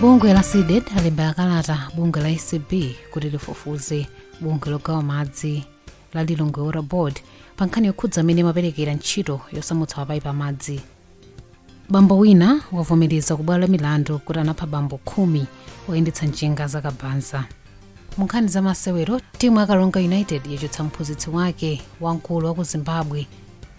bungwe la cdedi lalemba kalata bungwe la acb kuti lifufuze bungwe logawa madzi la lilongwe water board pa nkhani yokhudza mmene amaperekera ntchito yosamutsa mapayipi amadzi bambo wina wavomereza kubwalo la milandu kuti anapha abambo khumi oyendetsa njinga za kabaza mu nkhani za masewero timu ya karonga united yachotsa mphunzitsi wake wamkulu wa ku zimbabwe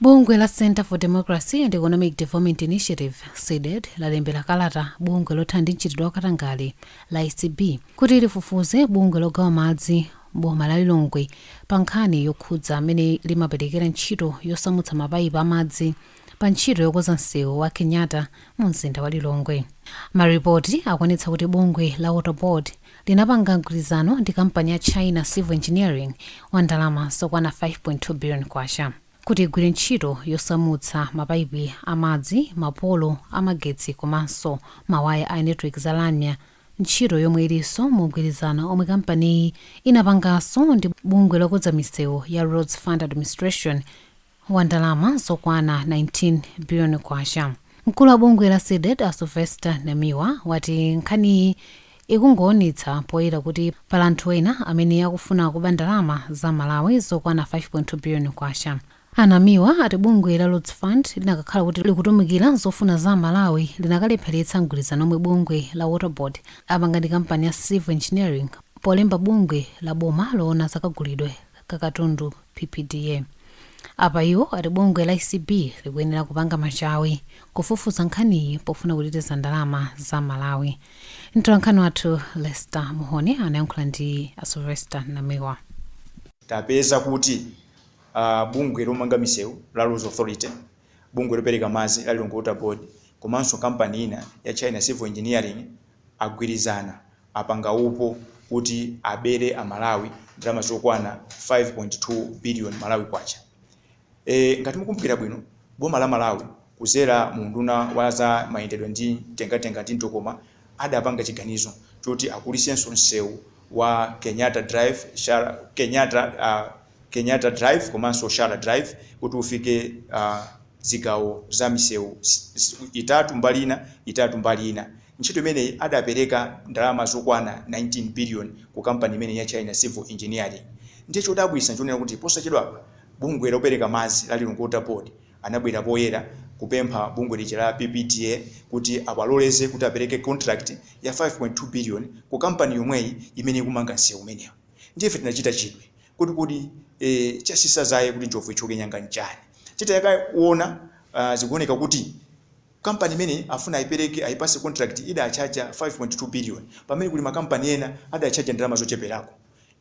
Bungwe la Centre for Democracy and Economic Development Initiatives, Cdedi, lalembera kalata bungwe lothana ndi mchitidwe wa katangale la acb kuti lifufuze bungwe logawa madzi m'boma la Lilongwe pa nkhani yokhudza mmene limaperekera ntchito yosamutsa mapaipi a madzi pa ntchito yokonza msewu wa Kenyatta mu mzinda wa Lilongwe. Maripoti akuonetsa kuti bungwe la Water Board linapanga mgwirizano ndi kampani ya China Civil Engineering wa ndalama zokwana K5.2 billion kuti igwire ntchito yosamutsa mapaipi a madzi, mapolo a magetsi komanso mawaya a netiweki za lamya, ntchito yomwe ilinso mu mgwirizano omwe kampaniyi inapanganso ndi bungwe lokonza misewu ya Roads Fund Administration, wa ndalama zokwana K19 biliyoni. Mkulu wa bungwe la Cdedi a Sylvester Namiwa wati nkhaniyi ikungoonetsa poyera kuti pali anthu ena amene akufuna kuba ndalama za Amalawi zokwana K5.2 biliyoni. A Namiwa ati bungwe la Roads Fund linakakhala kuti likutumikira zofuna za Amalawi linakalepheretsa mgwirizano omwe bungwe la Water Board apanga ndi kampani ya Civil Engineering polemba bungwe la boma loona za kagulidwe ka katundu PPDA. Apa iwo ati bungwe la acb likuyenera kupanga machawi kufufuza nkhaniyi pofuna kuteteza ndalama za Amalawi. Mtolankhani wathu Lester Muhone anayankhula ndi a Sylvester Namiwa. Tapeza kuti a bungwe lomanga misewu la Roads Authority, bungwe lopereka madzi la Lilongwe Water Board komanso kampani ina ya China Civil Engineering agwirizana apanga upo kuti abere a Malawi ndalama zokwana 5.2 billion Malawi Kwacha. E, ngati mukumbukira bwino, boma la Malawi kuzera mu unduna wa za mayendedwe ndi mtengatenga ndi mtokoma adapanga chiganizo choti akulisenso nsewu wa Kenyatta Drive, Kenyatta uh, Kenyatta Drive komanso Sharrar Drive kuti ufike zigawo za misewu itatu mbali ina, itatu mbali ina. Ntchito imeneyi adapereka ndalama zokwana 19 biliyoni ku kampani imeneyi ya China Civil Engineering. Ndiye chodabwitsa n'chonena kuti posachedwapa bungwe lopereka madzi la Lilongwe Water Board anabwera poyera kupempha bungwe lija la PPDA kuti awaloleze kuti apereke contract ya 5.2 biliyoni ku kampani yomweyi imene ikumanga nsewu umenewu. Ndiye ife tinachita chidwi. Kodi kodi e, chatsitsa dzaye kuti njovu ithyoke nyanga nchani? Titakaona uh, zikuoneka kuti kampani imene akufuna aipereke aipatse contract idatchaja 5.2 billion pamene kuli makampani ena adatchaja ndalama zocheperako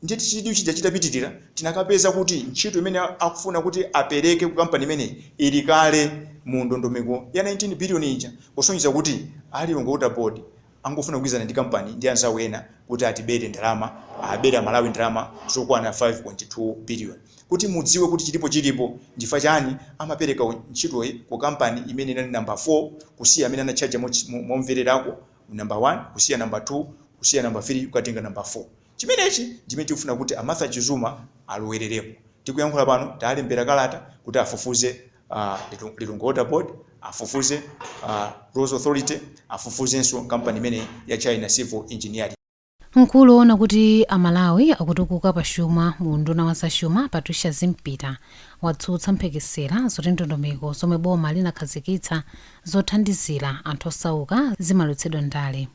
ndiye chidwi chija chitapitirira tinakapeza kuti ntchito imene akufuna kuti apereke ku kampani imene ili kale mu ndondomeko ya 19 billion ija kusonyeza kuti a Lilongwe Water Board angofuna kugwirizana ndi kampani ndi anzawo ena kuti atibere ndalama, abere amalawi ndalama zokwana 5.2 billion. Kuti mudziwe kuti chilipo chilipo nchifukwa chani amapereka ntchitoyi ku kampani imene inali number 4 kusiya amene anatchaja momvererako number 1 kusiya number 2 kusiya number 3 kukatenga number 4. Chimenechi ndichimene tikufuna kuti a Martha Chizuma alowererepo. Tikuyankhula pano talembera kalata kuti afufuze a. uh, Lilongwe Water Board afufuze uh, Roads Authority afufuzenso kampani imene ya China Civil Engineering mkulu woona kuti amalawi akutukuka pa chuma mu unduna wa zachuma Patricia Zimpita watsutsa mphekesera zoti ndondomeko zomwe boma linakhazikitsa zothandizira anthu osauka zimalowetsedwa ndale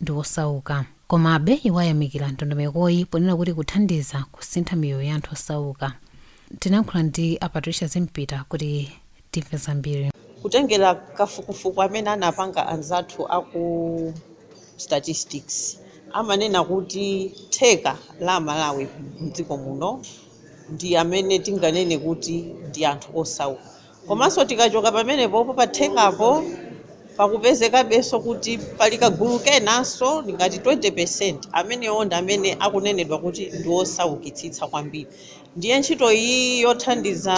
ndi osauka. Komabe, iwo ayamikira ndondomekoyi ponena kuti ikuthandiza kusintha miyoyo ya anthu osauka. Tinayankhula ndi a Patricia Zimpita kuti timve zambiri. Kutengera kafukufuku amene anapanga anzathu aku statistics, amanena kuti theka la amalawi mdziko muno ndi amene tinganene kuti ndi anthu osauka. Komanso tikachoka pamenepopo pa thekapo pakupezekabenso kuti pali kagulu kenanso ngati 20%, amenewo ndi amene akunenedwa kuti ndi osaukitsitsa kwambiri. Ndiye ntchito iyi yothandiza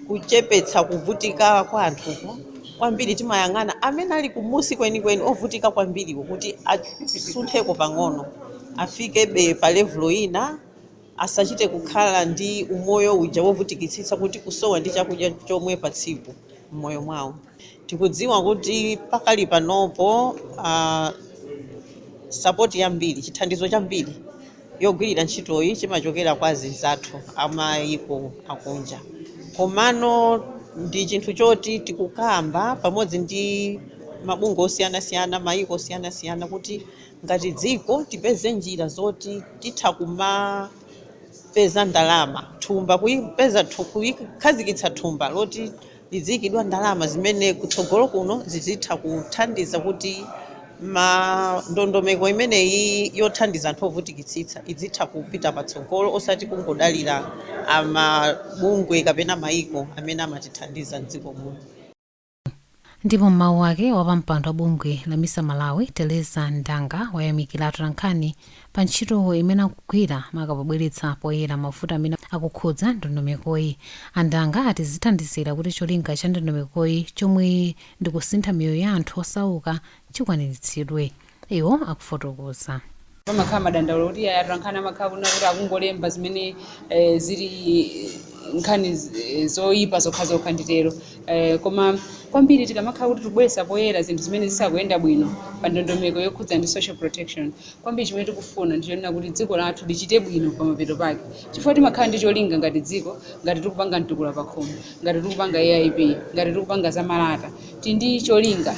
kuchepetsa kuvutika kwa anthuku, kwambiri timayang'ana amene ali kumunsi kwenikweni, ovutika kwambiriwo kuti asuntheko pang'ono, afikebe pa levulo ina. asachite kukhala ndi umoyo uja wovutikitsitsa kuti kusowa ndi chakudya chomwe pa tsiku m'moyo mwawo. Tikudziwa kuti pakali panopo a sapoti yambiri, chithandizo chambiri yogwirira ntchitoyi chimachokera kwa azinzathu a mayiko akunja komano ndi chinthu choti tikukamba pamodzi ndi mabungwe osiyanasiyana, mayiko osiyanasiyana kuti. ngati dziko tipeze njira zoti titha kumapeza ndalama thumba kuipeza kuikhazikitsa thumba loti lidziikidwa ndalama zimene kutsogolo kuno zizitha kuthandiza kuti ma ndondomeko imeneyi yothandiza anthu ovutikitsitsa idzitha kupita patsogolo osati kungodalira amabungwe kapena maiko amene amatithandiza mdziko muno. Ndipo m'mawu ake, wapampando wa bungwe la misa Malawi, Teresa Ndanga, wayamikira atolankhani pa ntchito imene akugwira maka pobweretsa poyera mavuto amene akukhudza ndondomekoyi. A Ndanga ati zithandizira kuti cholinga cha ndondomekoyi chomwe ndi kusintha miyoyo ya anthu osauka chikwaniritsidwe. iwo akufotokoza. Pamakhala madandaulo kuti iyayi atolankhani amakhala kunena kuti akungolemba zimene eh, zili nkhani z- eh, zoyipa zokhazokha nditero eh, koma kwambiri tikamakhala kuti tikubweretsa poyera zinthu zimene zisakuyenda bwino pa ndondomeko yokhudza ndi social protection kwambiri chimene tikufuna ndichonena kuti dziko lathu lichite bwino pamapeto pake chifukwa timakhala ndi cholinga ngati dziko ngati tikupanga mtukula pakhomo ngati tikupanga aip ngati tikupanga zamalata Tili ndi cholinga,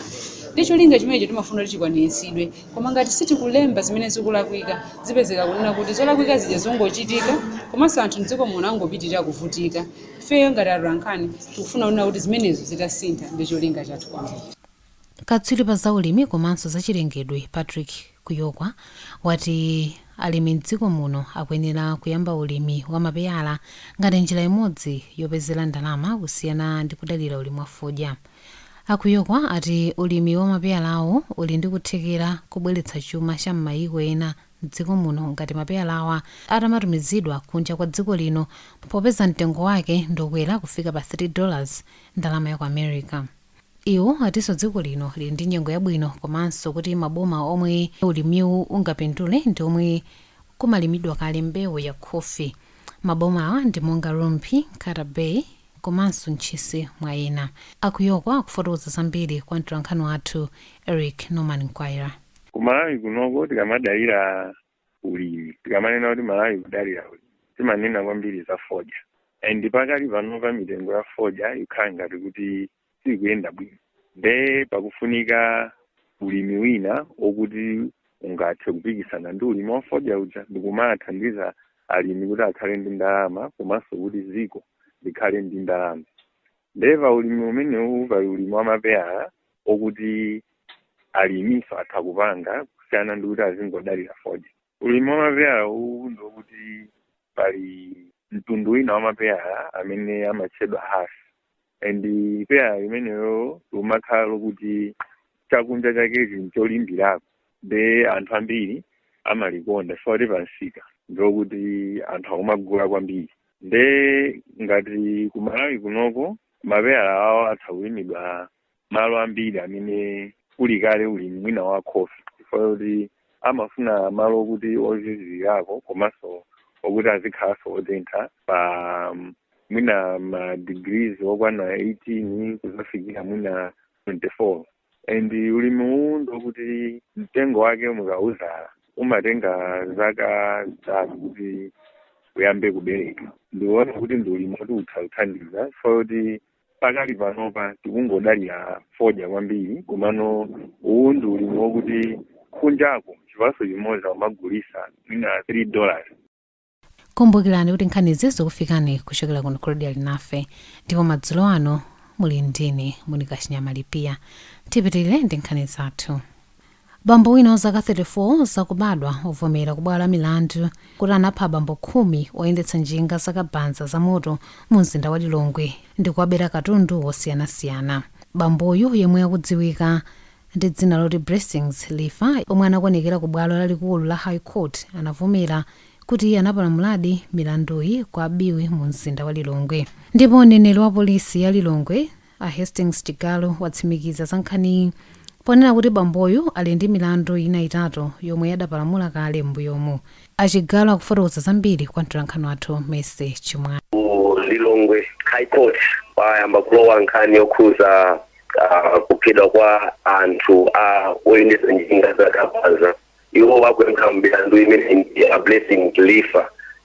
ndi cholinga chimenecho timafuna kuti chikwaniritsidwe. Koma ngati sitikulemba zimene zikulakwika, zipezeka kunena kuti zolakwika zija zongochitika komanso anthu m'dziko muno angopitirira kuvutika. Ifeyo ngati atolankhani tikufuna kunena kuti zimenezo zitasintha ndi cholinga chathu kwambiri. Katswiri pa zaulimi komanso zachilengedwe Patrick Kuyokwa, wati alimi m'dziko muno akuyenera kuyamba ulimi wa mapeyala ngati njira imodzi yopezera ndalama kusiyana ndi kudalira ulimi wa fodya. A Kuyokwa ati ulimi wa mapeyalawo uli ndi kuthekera kubweretsa chuma cha m'mayiko ena m'dziko muno ngati mapeyalawa atamatumizidwa kunja kwa dziko lino popeza mtengo wake ndi okwera kufika pa 3 dollars, ndalama ya ku America. Iwo atinso dziko lino lili ndi nyengo yabwino komanso kuti maboma omwe ulimiwu ungapindule ndi omwe kumalimidwa kale mbewu ya khofi. Mabomawa ndi monga Rumphi, Nkhata Bay komanso Ntchisi mwa ena. A Kuyokwa akufotokoza zambiri kwa mtolankhani wathu Eric Norman Mkwaira. Ku Malawi kunoko tikamadalira ulimi tikamanena kuti malawi kudalira ulimi timanena kwambiri za fodya and pakali panopa mitengo ya fodya ikhala ngati kuti sikuyenda bwino nde pakufunika ulimi wina okuti ungathe kupikisana ndi ulimi wa fodya uja ndikumathandiza alimi kuti akhale ndi ndalama komanso kuti ziko likhale ndi ndalama nde pa ulimi umenewu pali ulimi wa mapeyala okuti alimiso atha kupanga kusiyana ndi kuti azingodalira fodya ulimi wa mapeyala uwu ndi okuti pali mtundu wina wa mapeyala amene amatchedwa hass and peyala limenelo limakhala lokuti chakunja chakechi ncholimbirako nde anthu ambiri amalikonda chifukwa kuti pansika ndiokuti anthu akumagula kwambiri nde ngati kumalawi kunoko mapeyala awo atha kulimidwa malo ambiri amene kuli kale ulimi mwina wa khofi chifukwa choti amafuna malo okuti ozizirako komanso okuti azikhalanso otentha pa mm, mwina ma degrees okwana 18 kuzafikira mwina 24 and ulimi uwu ndokuti mtengo wake mukawuzala umatenga zaka zitatu kuti uyambe kubereka ndiona kuti ndi ulimi woti utha kuthandiza chifukwa choti pakali panopa tikungodalira fodya kwambiri komano uwu ndi ulimi wokuti kunjako chipaso chimodzi amagulisa mwina 3 dollars kumbukirani kuti nkhanizi zikukufikani kuchokera kuno ku Radio Alinafe ndipo madzulo ano muli ndine monika chinyama lipiya tipitirire ndi nkhani zathu Bambo wina wa zaka 34 zakubadwa wavomera kubwalo la milandu kuti anapha abambo khumi oyendetsa njinga za kabanza za moto mu mzinda wa Lilongwe ndi kuwabera katundu wosiyanasiyana. Bamboyu yemwe akudziwika ndi dzina loti Blessings Life omwe anakonekera ku bwalo lalikulu la High Court anavomera kuti iye anapalamuladi milanduyi kwa Biwi mu mzinda wa Lilongwe. Ndipo mneneri wa polisi ya Lilongwe, A Hastings Chigalu watsimikiza za nkhaniyi ponena kuti bamboyu ali ndi milandu ina itatu yomwe adapalamula kale m'mbuyomu. A Chigalu akufotokoza zambiri kwa mtolankhani wathu Mercy Chimwala. Ku Lilongwe High Court kwayamba kulowa nkhani yokhuza kuphedwa kwa anthu a oyendetsa njinga za kabaza. Iwo akuyankha milandu imeneyi ndi a Blessings Life.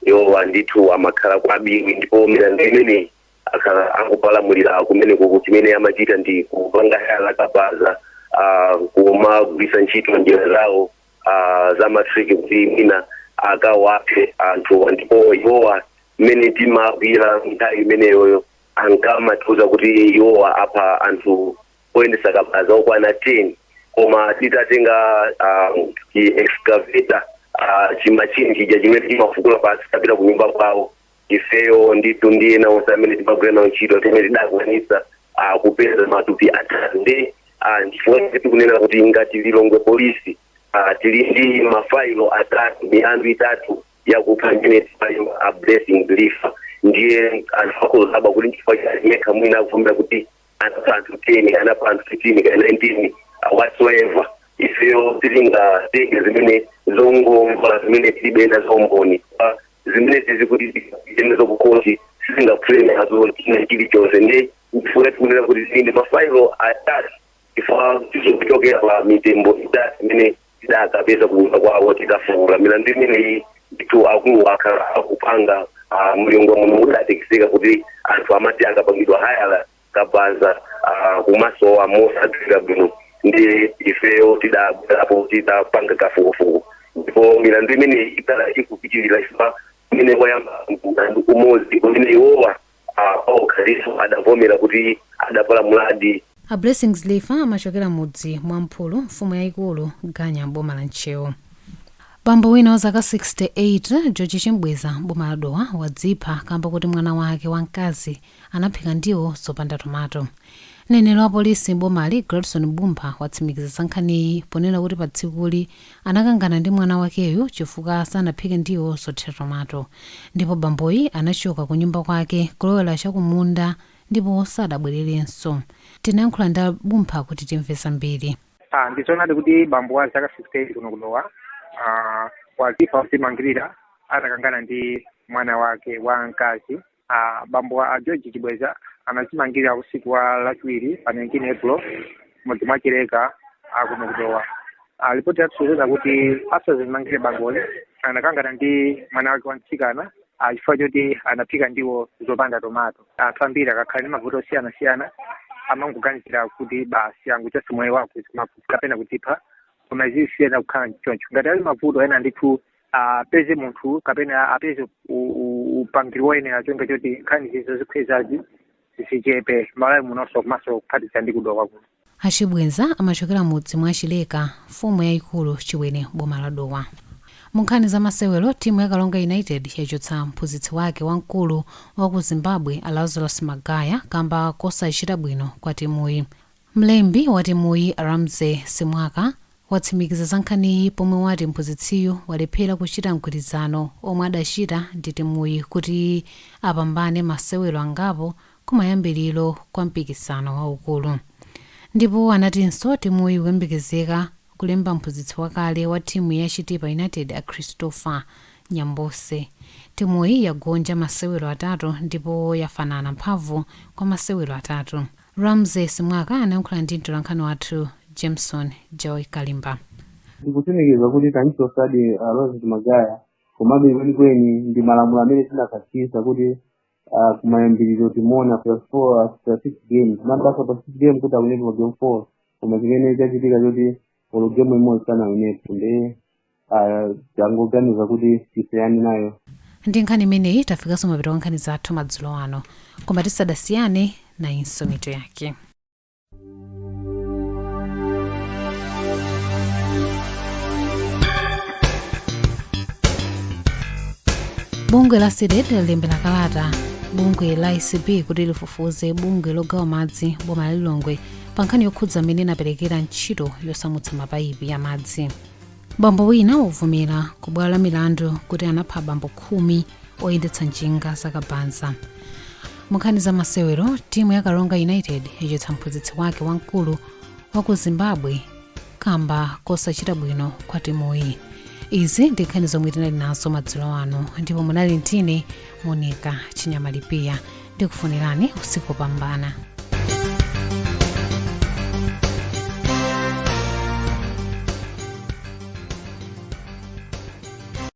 Iwowa ndithu amakhala kwa Biwi ndipo milandu imeneyi akhala akupalamulira kumenekoko chimene amachita ndi kupanga hayala kabaza ah, kumagwiritsa ntchito njira zawo ah, za matriki kuti mwina akawaphe anthuwa ndipo iwowa mmene timawagwira nthawi imeneyoyo ankamatiuza kuti iwowa apha anthu oyendesa kabaza okwana 10 koma titatenga um, chi excavator uh, chimachini chija chimene chimafukula pansi tapita ku nyumba kwawo ifeyo ndithu ndi ena onse amene timagwira nawo ntchito zimene tidakwanisa ah, kupeza matupi atatu nde ah, ndichifukwa chake tikunena kuti ngati lilongwe polisi ah, tili ndi mafailo atatu milandu itatu yakupha imene tikuwayimba a blessing life ndiye anthu akudabwa kuti nchifukwa chiyani yekha mwina akuvomera kuti anapha anthu 10 anapha anthu 15 kana 19 uh, whatsoever ifeyo sitingatenge zimene zongomva zimene tilibe nazo umboni Ah, zimene tizikuti zimene zokukhoti sitingaphule nazo china chilichonse nchifukwa tikunena kuti tili ndi mafailo atatu ifa tizokuchokera pa mitembo itatu imene tidakapeza kunyumba kwawo titafukula milandu imeneyi ndithu akuluwa akhala akupanga ah, m'lilongwe muno mudatekeseka kuti anthu amati akapangidwa hayala kabaza ah, kumasowa mosadziwika bwino ndi ifeyo tidabwerapo tidapanga kafukufuku ndipo milandu imeneyi ikhala ikupitirira ifa imene wayamba mlandu umodzi umene iwowa A Paul Khalifa adavomera kuti adapalamuladi. A Blessings Lifa amachokera mudzi mwa Mphulu, mfumu yaikulu Ganya m'boma la Ntcheu. Bambo wina wa zaka 68, George Chimbweza m'boma la Dowa wadzipha kamba koti mwana wake wa mkazi anaphika ndiwo zopanda tomato. Mneneri wa polisi m'bomali, Gladson M'bumpha watsimikiza za nkhaniyi ponena kuti patsikuli, anakangana ndi mwana wakeyu chifukwa sanaphike ndiwo zothira tomato ndipo bamboyi anachoka kunyumba kwake kulowera cha kumunda ndipo sadabwererenso. Tinayankhula ndi a M'bumpha kuti timve zambiri. A, Ndi zoonadi kuti bambo wa zaka 68 kuno ku Dowa a, wadzipha podzimangirira atakangana ndi mwana wake wamkazi. a bambo a george chimbweza anadzimangirira usiku wa lachiwiri pa 19 april mudzi mwa chileka kuno ku dowa Ah, ripoti yatisonyeza kuti asadzimangirire bamboyi anakangana ndi mwana wake wa mtsikana ah, chifukwa choti anaphika ndiwo zopanda tomato anthu ambiri akakhala ndi mavuto osiyanasiyana amangoganizira kuti basi angochotsa moyo wawo kapena kudzipha koma izi siziyenera kukhala choncho ngati ali mavuto ena ndithu apeze munthu kapena apeze upangiri woyenera cholinga choti nkhani izi zodzikhwezazi zichepe m'malawi munonso komanso kuphatikiza ndi ku dowa kuno a chimbweza amachokera mudzi mwa chileka mfumu yayikulu chiwere m'boma la dowa munkhani za masewero timu ya karonga united yachotsa mphunzitsi wake wamkulu wa ku zimbabwe a lazarus magaya kamba kosachita bwino kwa timuyi Mlembi watimuyi, Ramzy Simwaka, watsimikiza za nkhaniyi pomwe wati mphunzitsiyu walephera kuchita mgwirizano omwe adachita ndi timuyi kuti apambane masewero angapo kumayambiliro kwa mpikisano waukulu ndipo anatinso timuyi ikuyembekezeka kulemba mphunzitsi wakale wa timu ya Chitipa United, a Christopher Nyambose. Timuyi yagonja masewero atatu ndipo yafanana mphamvu kwa masewero atatu. Ramzy Simwaka anayankhula ndi mtolankhani wathu Jameson Joy Kalimba. Ndikutsimikiza kuti tamchotsadi a Lazarus Magaya komabe kwenikweni ndi malamulo amene tinakhazikitsa kuti ah, kumayambiriro timuona after four after six games mabasa pa six game kuti awinepo pa game four koma chimene chachitika choti olo game imodzi sanawinepo ndi ah, yangoganiza kuti isiyane nayo ndi nkhani imeneyi tafikanso mapeto a nkhani zathu madzulo ano koma tisadasiyane nayinso mitu yake bungwe la cdedi lalembera kalata bungwe la acb kuti lifufuze bungwe logawa madzi m'boma la lilongwe pa nkhani yokhudza mmene inaperekera ntchito yosamutsa mapayipi ya madzi bambo wina wavomera ku bwalo la milandu kuti anapha abambo khumi oyendetsa njinga zakabaza munkhani za masewero timu ya karonga united yachotsa mphunzitsi wake wamkulu wa ku zimbabwe kamba kosachita bwino kwa timuyi izi ndi nkhani zomwe tinali nazo madzulo ano ndipo munali ndi ine monica chinyamalipiya ndikufunireni usiku wopambana